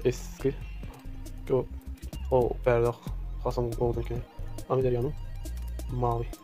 Eski. Go. Oh, berdak. Hasan Golden King. Amir Yanım. Mavi.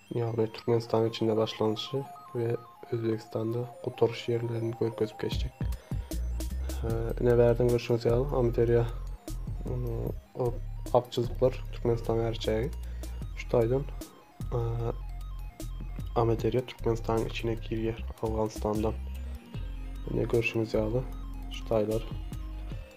Ýagny Türkmenistanyň içinde başlanşy we Özbegistanda gutaryş ýerlerini görkezip geçjek. Ine bärden görşüňiz ýaly Amyderýa ak çyzyklar Türkmenistanyň her çägi. Şu taýdan Amyderýa Türkmenistanyň içine girýär Awganystandan. Ine görşüňiz ýaly şu taýlar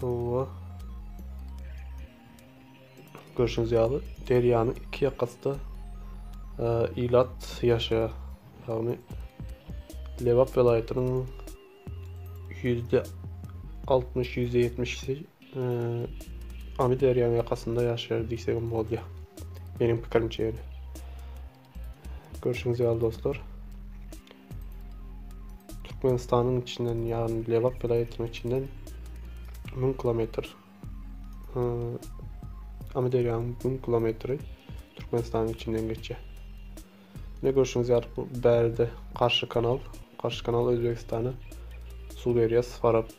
Hawa. Görşüňiz ýaly, derýanyň iki ýakasynda e, ilat ýaşaýar. Ýagny Lebap welaýatynyň ýüzde altmyş, ýüzde ýetmişi e, Amyderýanyň ýakasynda ýaşaýar diýsegem bolýar. Meniň pikirimçe ýöne. Görşüňiz ýaly dostlar. Türkmenistanyň içinden ýagny Lebap welaýatynyň içinden 1000 kilometr Amyderýanyň 1000 kilometri Türkmenistanyň içinden geçýär. Ne görşüňiz ýaly bu bärde garşy kanal, garşy kanal Özbegistana suw berýär, Farap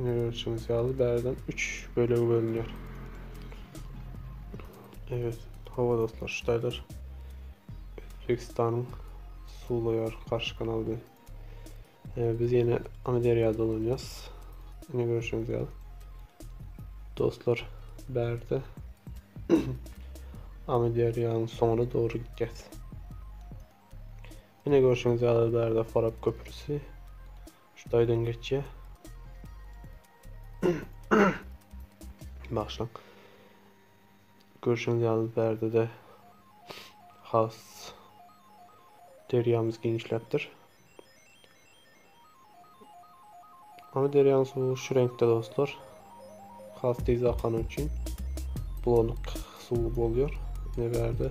Ine görüşüňiz ýaly bärden 3 bölege bölünýär. Evet, hava dostlar, şu taýlar Özbekistanyň suwlaýar garşy kanal bilen. Ee, biz ýene Amyderýa dolanýas. Ine görüşüňiz ýaly. Dostlar, bärde Amyderýanyň soňuna dogry gidýäs. Ine görüşüňiz ýaly bärde Farap köprüsi. Şu taýdan geçýär. Bagşyň. Görşüňiz ýaly bärde-de has derýamyz giňişläpdir. Ama derýaň suwy şu reňkde dostlar. Has tez akany üçin bulanık suw bolýar. Ne bärde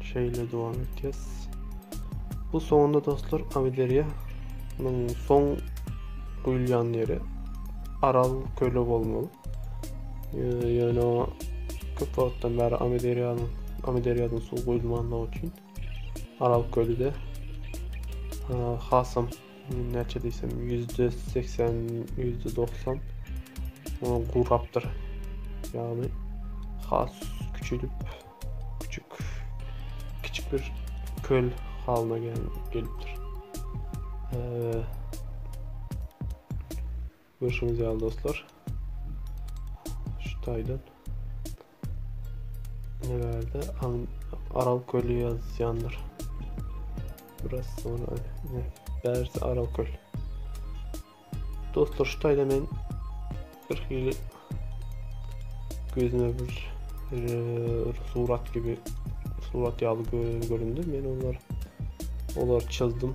Şeýle dowam etýäs. Bu soňunda dostlar Avideriýa munuň soň guýulýan ýeri Aral köli bolmaly. Ýöne köp wagtdan bäri Avideriýanyň Avideriýadan suw guýulmandygy üçin Aral köli de hasam näçe diýsem ýüzde seksen ýüzde doksan gurapdyr ýagny has küçülip küçük kiçik bir köl halyna gelipdir Görşüňiz ýaly dostlar, şu taýdan ne bärde Aral kölü ýazýandyr. Biraz sonra ne bärsi Aral köl. Dostlar şu taýda men bir hili gözüme bir e, surat gibi surat ýaly göründi. Men onları olar çizdim.